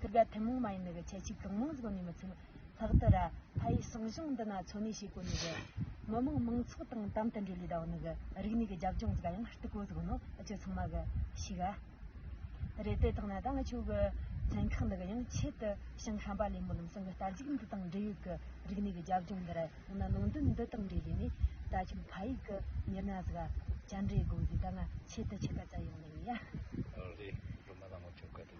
ཐུབ་དགའ་ཐུན་མོང་མ་ཡིན་ནི་གི་ཁྱད་ཆོས་གང་མང་གཟུགས་ནས་མི་ཚུགས། ལྷག་ཏུ་ར་ཕ་ཡི་གསང་གཞུང་འདི་ན་འཚོ་གནས་བྱེད་གོ་ནི་གི། མི་དམངས་མང་ཚོགས་དང་དམ་དུ་འབྲེལ་བའི་ཟླ་བ་ནི་གི་རིག་གནས་ཀྱི་རྒྱབ་ལྗོངས་གཟུགས་ཡང་སྟུ་གོ་གཟུགས་ནོ་ཨ་ཅོ་ཚང་མ་གི་ཤིག་ཨ། རེད་དེ་དག་ན་ད་ང་ཆོ་གི་ཚན་ཁག་འདི་གི་ཡང་ཆེད་དུ་ཞིང་ཧམ་པ་ལས་མོ་ལུམ་སང་གི་རྟ་རྒྱུག་འདི་དང་འབྲེལ་ཡོད་གི་རིག་གནས་ཀྱི་རྒྱབ་ལྗོངས་འདི་ར་ཡང་ན་ནང་དོན་འདི་དང་འབྲེལ་ཡོད་ནས་ད་ཁྱོད་ཕ་ཡིག་གི་ཉེར་ན་གཟུགས་ཨ། བཅར་འདྲི་དགོས་ཀྱི་ད་ང་ཆེད་དུ་ཆེད་ག་ཚ་ཡོང་ནི་གི་ཡ། རེད་རུ་མ་ད་ང་ཆོ་ག་དེ་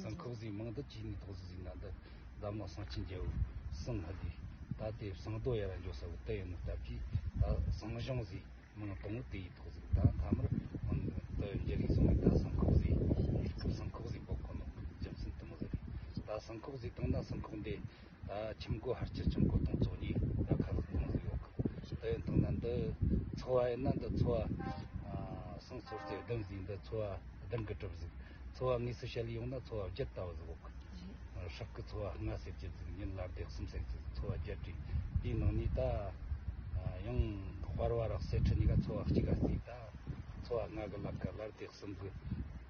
སང་ཁག་ཟིན་མང་དུ་བྱས་ནས་ཐོག་ཟིན་ཟིན་ན་འདི་བདག་མོ་སང་ཆེན་རྒྱལ་བོས་སང་ཧ་དེ་ད་དེ་སང་རྡོ་ཡ་ར་འཇོག་ས་བོ་དེ་ཡིན་ནོ་སྟབས་ཀྱིས་ད་སང་གཞུང་ཟིན་མང་དང་བོ་དེ་ཡིས་ཐོག་ཟིན་ད་མཐའ་མར་འང་དུ་འགྱེལ་རིགས་སོང་ནས་ད་སང་ཁག་ཟིན་གཉིས་སྐབས་སང་ཁག་ཟིན་པོ་ཁོ་ནོ་རྒྱུ་མཚན་དུ་མོ་ཟེར་རེད་ད་སང་ཁག་ཟིན་དང་ན་སང་ཁག་འདེ། ཁྱིམ་སྒོ་ཧར་གྱི་ཁྱིམ་སྒོ་དང་བཙོག་གཉིས་ལ་ཁ་ལག་གཏོང་གི་ཡོད་སྐབས་དེ་ཡིན་དང་ན་འདི་འཚོ་བ་ཡིན་ན་འདི་འཚོ་བ་སང་ཚོར་ཚེ་བདུན་བཟས་འདི་འཚོ་བ་བདུན་གྱི་གྲིབ་བཟས་འཚོ་བ་དངོས་སུ་བཤད་ཡོང་ན་འཚོ་བ་བརྒྱད་ལྟ་བུ་བཟས་ཡོད་སྐབས་ཧྲག་གི་འཚོ་བ་ལྔ་བཟས་བརྒྱད་བཟས་ཉིན་ལ་བརྡེག་གསུམ་བཟས་བཟས་འཚོ་བ་བརྒྱད་བྲིས་དེའི་ནང་ནས་ད་ཡང་དཔར་བ་རག་བསད་ཁྲི་གཉིས་ཀ་འཚོ་བ་གཅིག་ག་བཟས་ད་འཚོ་བ་ལྔ་གི་ལ་ཀ་ལ་བརྡེག་གསུམ་གི།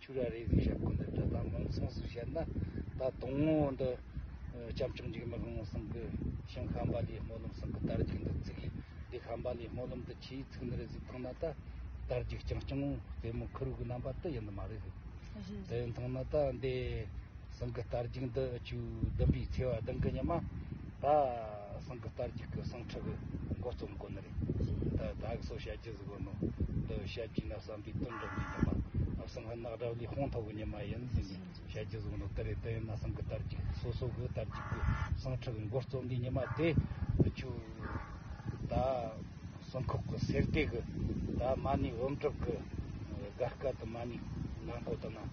ཆུ་ར་རེ་ཟིག་ཞབས་ཀུན་ཏུ་བཀྲལ་དང་མིང་མཚུངས་སུ་བཤད་ན་ད་དུང་ངོ་བོ་འདི། སྐྱབས་མཆོག་འཇིགས་མེད་ལྷུན་སྲིན་གྱི། ཞིང་ཁམས་པ་ལིའི་སྨོན་ལམ་གསུང་གི་དར་རྒྱུགས་འདི་བརྩིགས། ལི་ཁམས་པ་ལིའི་སྨོན་ལམ་འདི་ཆུའི་ཚིག་ནི་རེ་ཟིག་མཐོང་ན་ད། དར་རྒྱུགས་རྐྱང་རྐྱང་ངོ་དེ་མོ་ཁུ་རུ་གུ་རྣམ་པ་དེ་ཡིན་ནི་མ་རེད། དེ་མཐོང་ན་ད་འདས། གསུང་གི་དར་རྒྱུགས་འདི་ཆུའི་ལྡུམ་པའི་ཚེ་བ་གདིང་གི་ཉི་མ། ད་སང་གི་དར་རྒྱུག་གི་སང་ཁྲི་གི་མགོ་རྩོམ་དགོ་ནི་རེད། ད་ད་གི་སོ་བཤད་རྒྱུ་ཟིག་དགོ་ནོ། འདི་བཤད་རྒྱུ་ན་བསམ་པའི་དོན་འགྲུབ་འདུག་ཉི་མ། ཨ་སང་ཧི་ནག་དགྲ་བླའི་དཔུང་ཐོག་གི་ཉི་མ་ཡིན་ཟིག་ནི་བཤད་རྒྱུ་ཟིག་ནོ་དེ་རེད་དེ་ཡིན་ན་སང་གི་དར་རྒྱུག་སོ་སོ་གི་དར་རྒྱུག་གི་སང་ཁྲི་གི་མགོ་རྩོམ་པའི་ཉི་མ་དེ་ཆུ། ད་སང་ཁོག་གི་སེར་སྡེ་གི་ད་མ་ནི་འོམ་གྲུབ་གི་སྒར་སྐད་དུ་མ་ནི་ནག་མགོ་དང་ན།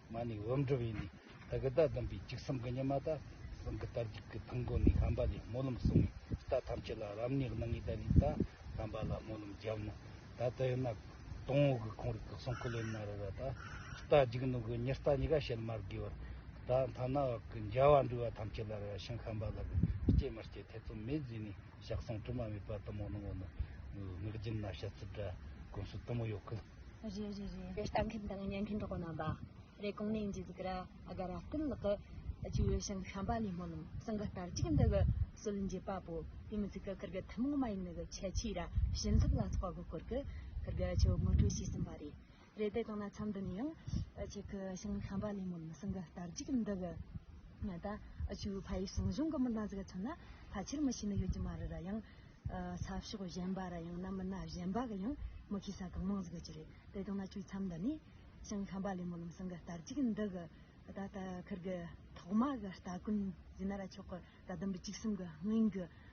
ང་ནི་འོམ་འགྲོ་བས་ནི་བདག་གི་བདག་བདེན་པའི་འཇིགས་སམ་གཉིད་མ་དག་གསུམ་གྱི་དར་གྱིས་ཀྱི་ཕུང་པོ་ནི་ལྷམ་པ་ལས་སྨོན་ལམ་གསུངས་ནས་རྟ་ཐམས་ཅད་ལ་རབ་གནས་གནང་ངེས་ད་ནི་རྟ་ལྷམ་པ་ལ་སྨོན་ལམ་བརྒྱབ་ན་ད་ལྟ་ཡོད་ན་དོང་བོ་གི་ཁོང་རིགས་ཀྱི་གསུང་ཁུ་ལེན་མ་རུལ་བ་དང་རྟ་འཇིགས་ནོ་གི་ཉི་རྟ་གཉིས་ཀ་བཤལ་མར་བསྒོས་བར་ད་མཐའ་ན་འོག་གི་འཇའ་བ་འདྲུལ་བ་ཐམས་ཅད་ལ་ར་བྱང་ཁམས་པ་ལ་གི་སྐྱེས་མ་སྐྱེས་ཐེ་ཚོམ་མེད་བཟོས་ནས། ཞག་སོང་དུ་མ་མེད་པ་དུ་མོ་གནང་བ་ནི། ངག་རྒྱུན་ན་བཤད་ཚུལ་འདྲ་དགོན་སུ་དུ་མོ་ཡོད་ཁུལ། རེད་རེད་རེད་རེད་ལྟ་མཁན་དང་ཉན་མཁན་གྲོགས་པོ་རྣམ་པ། རེད་གོང་ནས་འཇིགས་ག་ར་ཨ་ག་ར་བསྟན་ལགས་ཀྱི། བྱིས་བའི་ཞིང་ཤམ་པ་ལས་སྨོན་ལམ་གསང་གི་ལྟར་གཅིག་འདི་གི་སུལ་འབྱེད་པ་པོ་དེ་མི་ཚིག་གི་ཁུར་གི་ཐུན་མོང་མ་ཡིན་ནི་གི་ཁྱད་ཆོས་ར་བྱིན་ཐབས་ལ་སོགས་པ་པོ་སྐོར་གི་ཁུར་གི་ཆོས་དངོས་གྲོས་བྱས་ཟིན་པ་རེད། རེད་དེ་གང་ན་འཆམ་དུ་ནི་ཡང་གཅིག་གི་ཞིང་ལས་ཁམས་པ་ལས་མོ་ནི་སིང་གི་དར་གཅིག་གི་འདི་གི་ང་ད་ཆུ་ཕ་ཡི་སྲིང་གཞུང་གི་མི་སྣ་ཟིག་ཚོ་ན་ཕ་ཆེར་མི་ཤེས་ནི་ཡོད་ཀྱི་མ་རེད་ར་ཡང་ས་ཕྱོགས་གཞན་པ་ར་ཡང་ན་མི་སྣ་གཞན་པ་གི་ཡང་མི་ཤེས་ས་གང་མང་ཟིག་ཡོད་ཀྱི་རེད་དེ་གང་ན་ཆུའི་འཆམ་དུ་ནི་ཞིང་ལས་ཁམས་པ་ལས་མོ་ནི་སིང་གི་དར་གཅིག་གི་འདི་གི་ད་ལྟ་ཁུར་གི་ཐོག་མ་གི་སྟ་གོན་ཟིན་ན་ར་ཆོག་གི་ད་དུམ་བུ་གཅིག་གསུམ་གི་སྔོན་གྱི་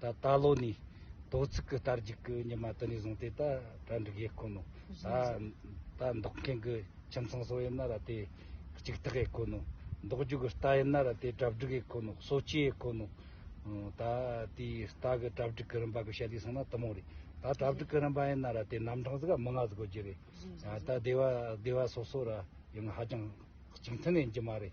ད་ལྟ་ལོ་ནི་དོ་ཚིགས་ཀྱི་རྟར་འཇུག་གི་ཉི་མ་དུ་ནས་བཟུང་སྟེ་ད་གྲ་འགྲིག་ཡས་ཁོ་ནོ། ད་ད་འདོགས་མཁན་གྱི་ཁྱིམ་ཚང་སོགས་ཡིན་ན་ར་དེ་གཅིག་ཐག་ཡས་ཁོ་ནོ། འདོགས་རྒྱུ་གྱི་རྟ་ཡིན་ན་ར་དེ་གྲ་བསྒྲིགས་ཡས་ཁོ་ནོ་གསོ་བྱེད་ཡས་ཁོ་ནོ། ད་དེའི་རྟ་གི་གྲ་བསྒྲིགས་གི་རིམ་པ་གི་ཞལ་ལས་གསུངས་ན་ཐུན་མོང་རེད། ད་གྲ་བསྒྲིགས་གི་རིམ་པ་ཡིན་ན་ར་དེ་རྣམ་གྲངས་གཟུགས་ཀ་མི་ལྔ་བཟོ་རྒྱུ་རེད། ད་སྡེ་བ་སྡེ་བ་སོ་སོ་ར་ཡང་ཧ་ཅང་གཅིག་མཐུན་ནས་ཡིན་གྱི་མ་རེད།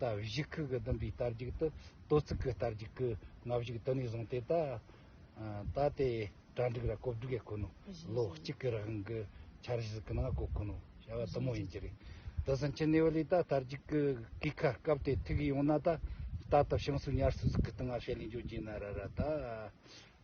ལྟ་བཞི་ཁུག་གི་བདུན་པའི་རྟ་རྒྱུག་ཏུ་ལྟོ་ཚིག་གི་རྟ་རྒྱུག་གི་ལྔ་བཞུགས་དུ་ནས་བཟུང་སྟེ་ད་ལྟ་དེ་གྲ་འགྲིག་ར་གོབ་འགྲིག་ཡ་ཁོ་ནོ། ལོ་གཅིག་གི་རིང་གི་འཆར་གཞི་གི་ནང་གོ་ཁོ་ནོ་བྱ་བ་དུ་མོ་ཡིན་གྱི་རེད། དེ་སྲིད་ཕྱི་ནས་བ་ལས་ད་རྟ་རྒྱུག་གི་གུས་ཁ་སྐབས་དེ་ཐུག་ཡོང་ན་ད་ལྟ་ད་ཞིང་སུ་ཉར་སུ་ཟུག་གི་སྟེང་ང་ཤེད་ལས་འཇོན་གྱིན་ན་ར་ར་ད་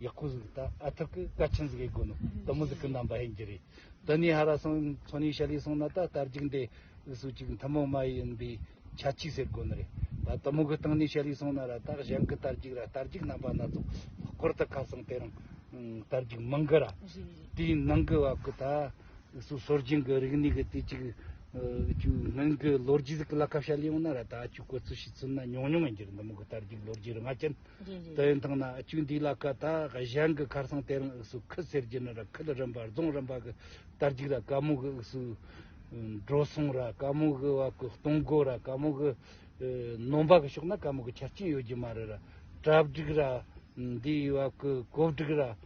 ཡག་པོ་ཟིག་ད་ཨ་ཐུག་གི་བཀའ་ཆེན་ཟིག་ཡེ་དགོས་ནོ་ད་མོ་ཟིག་གི་རྣམ་པ་ཡིན་གྱི་རེད་དེ་ནས་ཧ་ར་སོང་ཚོ་ནས་ཤ་ལི་སོང་ན་ད་ལྟར་རྒྱུགས་འདེད་ཨུ་སུ་ཅིག་མཐུན་མོང་མ་ཡིན་པའི་ཆ་གཅིག་ཟེར་དགོས་ནི་རེད་ད་ད་མོ་གི་སྟེང་ནས་ཤ་ལི་སོང་ན་ར་ད་གཞན་གི་ལྟར་རྒྱུགས་ར་ལྟར་རྒྱུགས་རྣམ་པ་སྣ་ཚོགས་ལྷག་པར་དུ་ཁ་སང་དེ་རིང་ལྟར་རྒྱུགས་མང་གི་ར་དེའི་ནང་གི་བབ་གི་ད་ཨུ་སུ་སོར་རྒྱུན་གི་རིག་གནས་གི་དུས་གཅིག་ཅུ་སྔོན་གི་ལོ་རྒྱུས་ཟིག་གི་ལ་ཁ་བཤད་ཡོང་ན་ར་ད་ཨ་ཅུ་གོ་ཚུལ་ཤེས་ཚུལ་ན་ཉུང་ཉུང་ཡིན་གྱི་རེད་ད་མོ་གི་ལྟར་རྒྱུགས་ལོ་རྒྱུས་རི་ང་ཅན་དེ་ཡིན་ཐང་ན་བཅུད་འདི་ལ་ཀ་དག་གཞན་གྱི་ཁར་སང་དེ་རང་དབུགས་སུ་ཁུ་ཟེར་གྱི་ནི་ར་ཁུ་ལ་རིམ་པར་རྫོང་རིམ་པ་གི་དར་གཅིག་ར་དཀར་མོ་གི་དབུགས་སུ། འགྲོ་སོང་ར་དཀར་མོ་གི་བ་ཀུ་སྟོང་སྒོ་ར་དཀར་མོ་གི། ནོམ་པ་གི་ཕྱོགས་ན་དཀར་མོ་གི་ཆ་རྐྱེན་ཡོད་ཀྱི་མ་རེད་ར། གྲབས་སྒྲིག་ར། འདིའི་བ་ཀུ་གོ་བསྒྲིག་ར།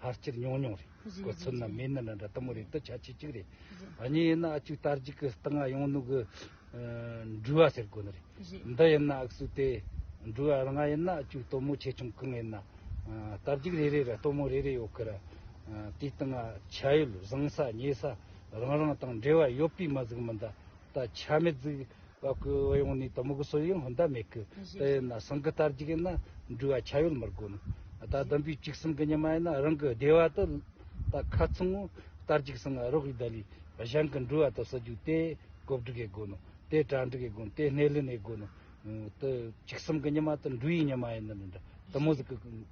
ལྷ་སྤྱིར་ཉུང་ཉུང་རེད་གོ་ཚོད་ནི་མི་ནི་འདྲ་ལྟ་མོ་རེད་འདི་ཆ་ཆེ་གཅིག་རེད་གཉིས་ཡིན་ན་གཅིག་དར་གཅིག་གི་སྟེང་ང་ཡོང་ནུ་གི་འགྲུལ་བ་ཟེར་དགོས་ནི་རེད་འདི་ཡིན་ན་ཨག་སུ་དེ་འགྲུལ་བ་ལྔ་ཡིན་ན་གཅིག་ལྟོ་མོ་ཆེ་ཆུང་གང་ཡིན་ན་དར་གཅིག་རེ་རེ་རེ་ལྟོ་མོ་རེ་རེ་ཡོད་གི་རེད་དེའི་སྟེང་ཆ་ཡོད་བཟང་ས་ཉེ་ས་རང་རང་དང་འབྲེལ་བ་ཡོད་པའི་མི་ཟིག་མི་འདུག་ད་ཆ་མི་རྫིག་བ་ཀུ་བ་ཡོང་ནི་དོ་མོ་ཀུ་སོ་ཡིན་ཧོན་ད་མེ་ཀུ་ད་ཡིན་ན་སང་ཀུ་ལྟར་རྒྱུག་ཡིན་ན་འགྲུལ་བ་ཆ་ཡོད་མི་རྒོ་ནི་ད་དམ་པའི་གཅིག་སིང་ཀུ་ཉི་མ་ཡིན་ན་རང་ཀུ་བདེ་བ་དུ་ད་ཁ་ཚུང་ངུ་ལྟར་རྒྱུག་སིང་ཨ་རོག་ཡི་ད་ལི་བཞང་ཀུ་འགྲུལ་བ་དུ་སུ་རྒྱུག་དེ་ཀོབ་འགྲུག་ཡེ་རྒོ་ནི་དེ་གྲ་འགྲུག་ཡེ་རྒོ་ནི་དེ་སྣེ་ལེན་ཡེ་རྒོ་ནི་ད་གཅིག་སིང་ཀུ་ཉི་མ་དུ་འགྲུལ་ཡིན་ཉི་མ་ཡིན་ནི་མི་འདྲ་དུ་མོ་ཟིག་ཀུ་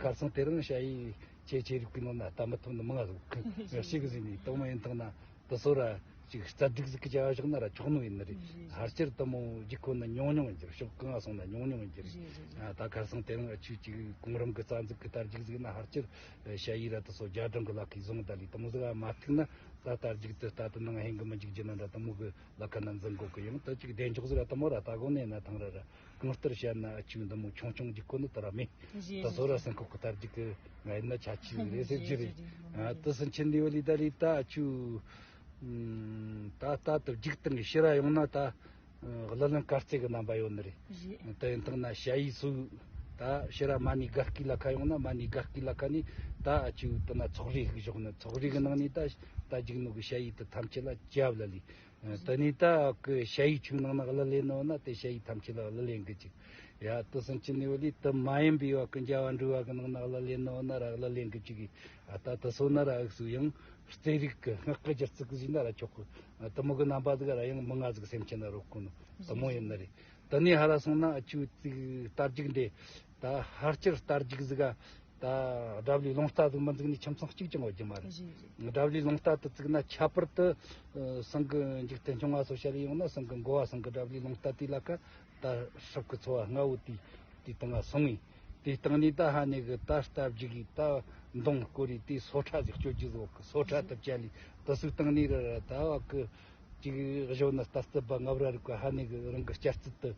ཁར་སང་དེ་རིང་ཤ་ཡིས་ཁྱེད་ཆེ་རིགས་པའི་ནང་ན་ལྟ་མི་ཐུབ་ན་མང་གཟུགས་ཤིག་གཟིགས་ནས་གཏོང་མ་ཡིན་ཐང་ན་དུ་སོ་ར་ཅིག་རྩ་སྡིག་གཟིགས་ཀྱི་བྱ་བ་བཞག་ན་ར་ཆོག་ནོ་ཡིན་ནི་རེད་ཕར་ཆེར་དུ་མོ་རྒྱུགས་ཁོ་ན་ཉུང་ཉུང་ཡིན་གྱི་རེད་ཤོག་གང་སོང་ན་ཉུང་ཉུང་ཡིན་གྱི་རེད་ད་ཁར་སང་དེ་རིང་ཨ་ཆུ་ཅིག་གོང་རིམ་གྱི་རྩ་འཛུགས་ཀྱི་དར་རྒྱུགས་གཟིགས་ན་ཧར་ཅིར་ཤ་ཡིས་ར་དུ་སོ་རྒྱ་གྲོང་གི་ལག་ཁའི་བཟུང་ད་ལས་དུ་མོ་གཟིགས་ཨ་མ་ཐུག་ན་རྩ་དར་རྒྱུགས་དེ་ལྟ་དུ་ནང་ཧེང་གི་མི་འཇུག་རྒྱུ་ན་ར་དུ་མོ་གི་ལག་ཁ་ན་འཛིན་དགོས་ཀྱི་ཡིན་དུ་ཅིག་བདེ་མཆོག་གཟིགས་ཨ་དུ་མོ་ར་ལྟ་དགོ་ནས་ན་ཐང་ར་ར། གང་ལྟར་བཤད་ན་ཨ་ཆུང་འདི་མོ་ཆུང་ཆུང་གི་སྐོར་ནི་དེ་ར་མེད་ད་གཟོད་ར་སེང་ཁོག་གི་དར་རྒྱུག་གི་ང་ཡིན་ན་ཆ་ཆེ་རེད་ཟེར་རྒྱུ་རེད་དེ་སུན་ཆིན་ལི་ཝི་ལི་ད་ལི་ད་ཨ་ཆུ་ད་ལྟ་དུ་རྒྱུག་སྟངས་ཀྱི་ཤི་ར་ཡོང་ན་ད་གླུ་ལེན་དཀར་རྩེ་གི་རྣམ་པ་ཡོད་ནི་རེད་དེ་ཡིན་སྟངས་ན་ཞ་ཡིས་སུ་ད་ཤི་ར་མ་ནི་དགའ་སྐྱིད་ལ་ཁ་ཡོང་ན་མ་ནི་དགའ་སྐྱིད་ལ་ཁ་ནི་ད་ཨ་ཆུ་དེ་ན་ཚོགས་རིགས་ཞིག་བཞོག་ནི་ཚོགས་རིགས་གི་ནང་ནི་ད་ད་འཇིགས་ནོ་གི་ཞ་ཡིས་དེ་ཐམས་ཅད་ལ་ཅབ་ལ་ལི་ད་ནི་ད་ཀི་ཞྭ་ཡིག་ཆུང་ནང་ན་གླུ་ལེན་ནོ་ན་དེ་ཞྭ་ཡིག་ཐམས་ཅད་ལ་གླུ་ལེན་གི་ཅིག། ཡ་ཏི་སང་ཅི་ནི་བ་ལི་ཏི་མ་ཡིན་པའི་བ་ཀི་འཇའ་བ་འདྲུ་བ་གི་ནང་ན་གླུ་ལེན་ནོ་ན་ར་གླུ་ལེན་གི་ཅིག་གི། ཨ་ད་ཏི་སོ་ན་ར་ཨིག་སུ་ཡང་རྩེ་རིག་གི་སྔགས་ཀི་སྦྱར་ཚིག་གི་བཞིན་ན་ར་ཆོག་གི། ཏི་མུག་གི་རྣམ་པ་དག་ར་ཡང་མི་མངའ་ཟིག་སེམས་ཅན་ན་རོ་ཀུ་ནི་ཏི་མུག་ཡིན་ན་རེ། ད་ནི་ཧ་ལ་སོང་ན་ཨ་ཅུ་ཏིག་ལྟར་འཇིག་འདི། ད་ཧར་སྐྱེར་རྟར་འཇིགས་གཟིགས་ཨ། ད་དགྲ་བླའི་ལུང་རྟ་དུ་མི་འཛིགས་ནས་ཁྱིམ་ཚང་གཅིག་ཀྱང་འོག་རྒྱུ་མ་རེད། དགྲ་བླའི་ལུང་རྟ་དུ་བཙུགས་ན་ཁྱད་པར་དུ་སང་གི་འཇིག་རྟེན་ཆུང་བ་སོགས་བཤད་ཡོང་ན་སང་གི་འགོ་བ་སང་གི་དགྲ་བླའི་ལུང་རྟ་དེའི་ལ་ཁ་ད་ཧྲིབ་ཀི་འཚོ་བ་སྔ་བོ་དེའི་དུས་དང་ང་སོང་ངས་དེའི་སྟེང་ནས་ད་ཧ་ནེ་གི་ད་རྟ་བརྒྱུགས་ཡིས་ད་མདུང་བསྐོར་ཡིས་དེའི་སོ་ཁྲ་ཟིག་སྤྱོད་རྒྱུ་ཟིག་འོག་གི་སོ་ཁྲ་དུ་བཅད་ལས་དུ་སུའི་སྟེང་ནས་རེད་ར་ད་བ་གི་གཅིག་གཞོན་ནུ་རྟ་རྩི་སྦ་ལྔ་བར་རིག་པ་ཧ་ནེ་གི་རང་གི་སྐྱ་རྩིད་དུ།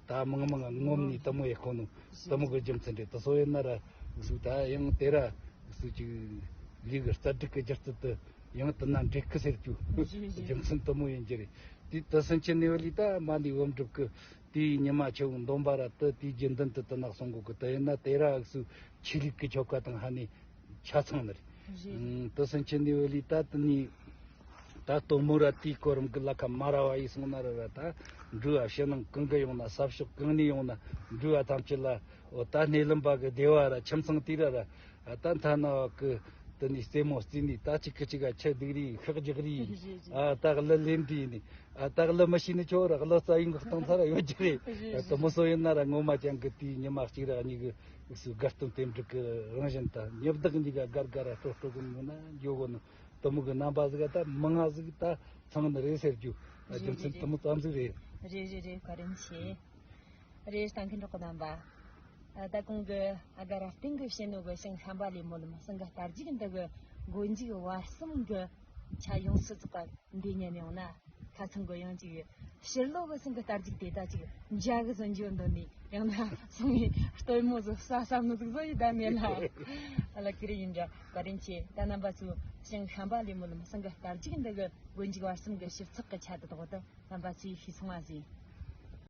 ད་མང་མང་ང་ངོམ་ནས་ལྟད་མོ་ཡེ་ཁོ་ནོ་ལྟད་མོ་གི་རྒྱུ་མཚན་དེ་ད་སོ་ཡེ་ན་ར་གཟུགས་ད་ཡང་དེ་ར་གཟུགས་ཀྱི་ལུས་ཀྱི་རྩ་དྲུག་གི་སྦྱར་ཚུལ་དུ་ཡང་དུ་ན་འབྲས་སྐུ་ཟེར་གྱུ་རྒྱུ་མཚན་ལྟད་མོ་ཡིན་གྱི་རེད་དེ་ད་སེམས་ཅན་ནེ་ཝེ་ལི་ད་མ་ནི་ཝོམ་སྒྲུབ་གི་དེའི་ཉི་མ་ཆུ་བོ་འདོམ་པ་ར་དུ་དེའི་རྒྱུ་མདུན་དུ་དུ་ནག་སོང་གོ་གི་ད་ཡེ་ན་དེ་ར་གཟུགས་ཆོས་ལུགས་ཀྱི་ཆོ་ག་དང་ཧ་ནི་ཆ་ཚང་ནི་རེད་དེ་སེམས་ཅན་ནེ་ཝེ་ལི་ད་དུ་ནི། ད་གཏོ་མུ་ར་ཏིའི་གོ་རིམ་གྱི་བླ་ཁ་མ་ར་བ་ཡིས་གསུངས་ན་ར་བ་དང་འབྲུ་བ་ཕྱི་ནང་གང་གི་ཡོང་ན་ས་ཕྱོགས་གང་ནས་ཡོང་ན་འབྲུ་བ་ཐམས་ཅད་ལ་འོ་ད་སྣེ་ལེན་པ་གི་སྡེ་བ་ར་ཁྱིམ་ཚང་དེ་ར་ར་ད་མཐའ་ན་བ་གི་དུ་ནས་རྩེད་མོ་རྩེ་ནས་ད་གཅིག་གི་གཅིག་ག་ཁྱི་སྡིག་རི་ཡིས་ཤག་རྒྱག་རི་ཡིས་ཨ་ད་གླུ་ལེན་དུས་ཡིན་ནས་ཨ་ད་གླུ་མི་ཤེས་ནས་ཁྱོ་ར་གླུ་རྩ་ཡིན་གི་སྟོང་ཚ་ར་ཡོད་རྒྱུ་རེད་ཨ་ད་མུ་སོ་ཡིན་ན་ར་ངོ་མ་རྐྱང་གི་དུས་ཉི་མ་གཅིག་ར་གཉིས་གི་སུ་དགའ་སྟོན་དེབ་འབྲི་གི་རང་བཞིན་ད་ཉི་བདག་གཉིས་ག་དགར་དགར་ར་སྤྲོ་སྤྲོ་གི་མིན་ན་འགྱོ་གི་ནི། གཏི་མུག་གི་རྣམ་པ་ཟིག་ད་མི་མངའ་ཟིག་ད་ཚང་ནི་རེད་ཟེར་རྒྱུ་རྒྱུ་མཚན་གཏི་མུག་ཙམ་ཟིག་རེད། རེད་རེད་རེད་བཀའ་དྲིན་ཆེ། རེད་ལྟ་མཁན་གྲོགས་པོ་རྣམ་པ། ད་གོང་གི་ཨ་ག་ར་སྟེང་གི་བྱེད་ནུས་གི་ཞིང་ཁམས་པ་ལས་མོ་ལུ་མ་སྲིང་གི་རྟ་རྒྱུག་འདི་གི་དགོས་འཇུག་བར་གསུམ་གི་ཆ་ཡོངས་སུ་རྫོགས་པ་འདི་ཉན་ཡོང་ན་ཁ་ཚང་དགོས་ཡོང་ཅིག་ཕྱིར་ལོག་གི་སྲིང་གི་རྟ་རྒྱུག་དེ་དག་ཅིག་འཇགས་གི་ཟིན་འཇོག་འདི་ནས་ཡང་ན་སྲིང་མོའི་སྟོན་མོ་ཟིག་ཟ་ས་མི་ཟིག་བཟོ་ཡི་ད་མེད་ལ་ལ་ཀི་རི་ཡིན་འདྲ། བཀའ་དྲིན་ཆེ། ད་རྣམ་པ་ཚོས་ཞིང་ཤམ་པ་ལས་མོ་ལམ་སེང་གི་དར་གཅིག་འདི་གི་དགོན་འཇིག་བར་གསུམ་གི་ཞིབ་ཚགས་ཀྱི་ཆ་དེ་དག་ཏུ་རྣམ་པ་ཚོས་ཤེས་སོང་བ་བཟོས།